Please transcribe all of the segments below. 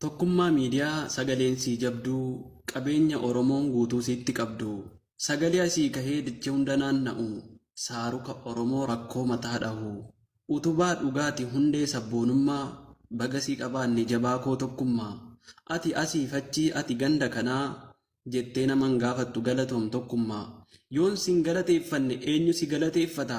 Tokkummaa miidiyaa sagaleen sii jabduu qabeenya oromoon guutuu siitti qabdu sagalee asii kahee dache hunda naanna'u saaruka oromoo rakkoo mataa dhahu utubaa dhugaati hundee sabboonummaa baga sii qabaanne jabaa koo tokkummaa ati asiif achii ati ganda kanaa jettee nama hin gaafattu galatoom tokkummaa yoon sin galateeffanne eenyu si galateeffata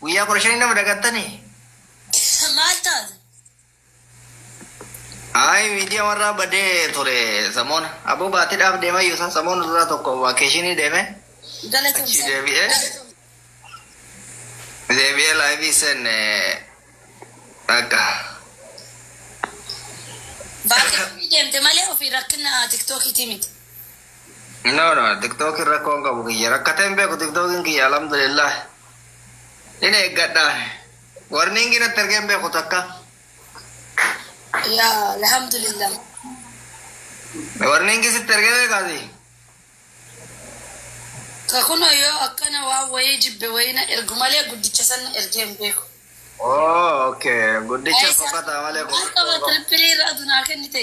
Guyyaa kudha shanii nama dagattanii? Maal taate? Ayi miidiyaa warraa badee ture samoona. Aboo baatiidhaaf deema iyyuu isaa samoona duraa tokko vaakeeshinii deeme. Achii Galatoomsa. deebi'ee deebi'ee laayivii seenne akka Baatee deemte malee ofii rakkina tiktookiitii miti. no no tiktookiin rakkoon qabu kiyya rakkateen beeku tiktookiin kiyya alhamdulillah. Hin eeggadha. Warningi natti ergee hin beeku takka. Yaa alhamdulillah. Warningi sitti ergee beekaasi. Ka kunoo yoo akkana waan wayii jibbe wayii na ergu malee guddicha san na ergee hin beeku. Oo okay. Guddicha fokkataa malee Maal qaba fokkataa. tirippirii irraa dunaa kennite.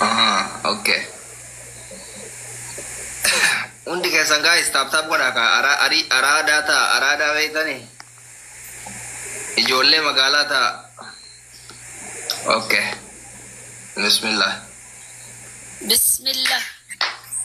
Ah, okay. Hundi keessan guys taap taap godhaa kaa araa arii araadaa taa araadaa beektani ijoollee magaalaa taa. Okay. Bismillah. Bismillah.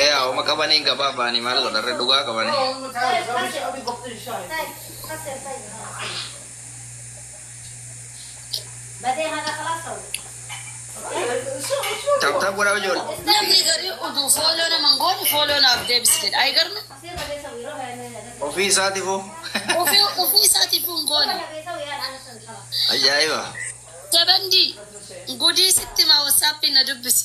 Yaa homa qabani hin gababani mal godha re dhugaa qabani. Tap tap godha ijoole. Namni garii uduu fooloo nama hin goone fooloo naaf deebisi jedha. Ayi garmi Ofii isaatifu. ofii ofii isaatiif hin goone. Ajaa'iba. Jabandii gudii sitti maa wasaappiin na dubbisi.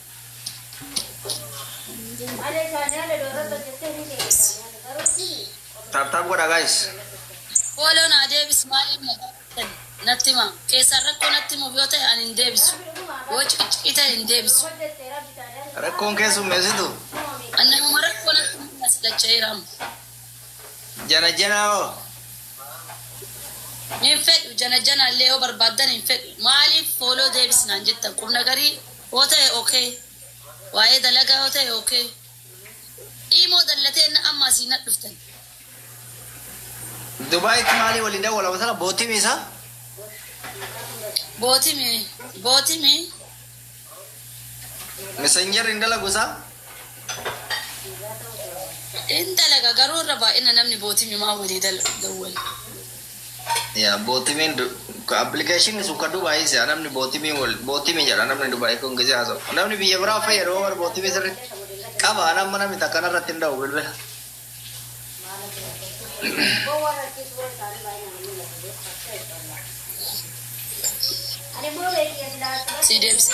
Taaptaap godha gaayis. Fooloo naa deebis maaliif na gaafatan natti hima. Keessaan rakkoo natti himuuf yoo ta'e ani hin deebisu. Yoo ciccii ta'e hin deebisu. Rakkoon keessummeessitu. An namuma rakkoo natti himuuf na salacha'eera amma. Janajanaa hoo? Hin fedhu janajanaa illee yoo barbaaddan hin fedhu. Maaliif fooloo deebis naan jettan qubna garii Yoo ta'e ok. Waa'ee dalagaa yoo ta'e ok. Imo dalla teenna amma asii nat dhuftani. Dubaitti maalii waliin dawwalama sana bootimi isaa? Bootimi bootimi. Messenger hin dalagu isaa? In dalaga garuu irra baay'ina namni bootimi maa walii dal- dawwala. Yaa bootimiin ka application sun ka Dubai siya namni bootimii wal bootimi jedha namni Dubai kun gizee haasa'u namni biyya biraa fayyadu bar bootimii sirri qaba ana amma namni takka narratti hin dha'u bilbila. Sii deebisee.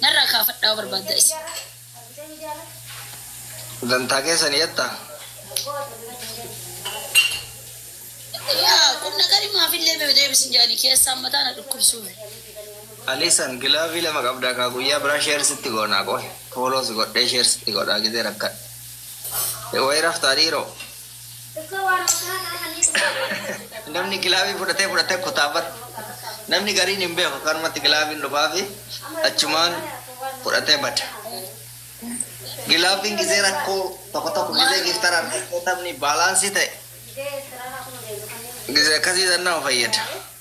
Narraa kaafadhaa yoo barbaaddan isin. Dantaa keessan yatta. Yaa qumnagari maafillee mee deebisin jedhani keessaan mataa na dhukkubsuume. Alisan gilaavii lama qabdaa kaa guyyaa biraa share sitti goonaa qoy follow si godhee share sitti godhaa gizee rakkadhe. Wayii raftaa dhiiroo. Namni gilaabii fudhatee fudhatee kutaa bar. Namni gariin hin beeku kanumatti gilaabiin dhufaafi achumaan fudhatee bada. Gilaabiin gizee rakkoo tokko tokko gizee giiftaraan rakkoo taphni baalaansii ta'e gizee akkasii san nama fayyada.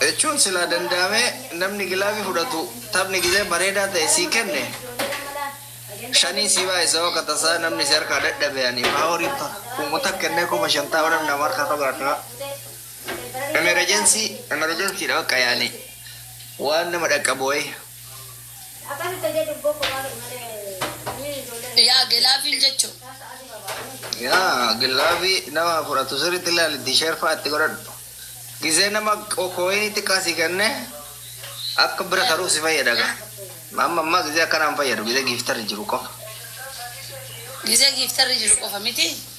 Jechuun silaa danda'amee namni gilaabii fudhatu taphni gizee bareedaa ta'e sii kenne shanii sii baay'isa hoo katasaa namni si harkaa dadhabe ani maa horii ta kuumota kennee kuma shantaama namni nama harkaa qabe harkaa emerejensii emerejensiidha bakka yaani waan nama dhaqqabu wayii. Akana ta jedhu boko wale male ni jole. Yaa gelaafin jechu. Yaa gillaafi nama fudhatu sirriitti ilaali tisheerfaa itti godhadhu. Gizee nama kooyinii xiqqaa sii kenne akka bira taruuf si fayyada gaa. Amma ammaa gizee akkanaan fayyadu gizee giiftarri jiru qofa. Gizee giiftarri jiru qofa miti.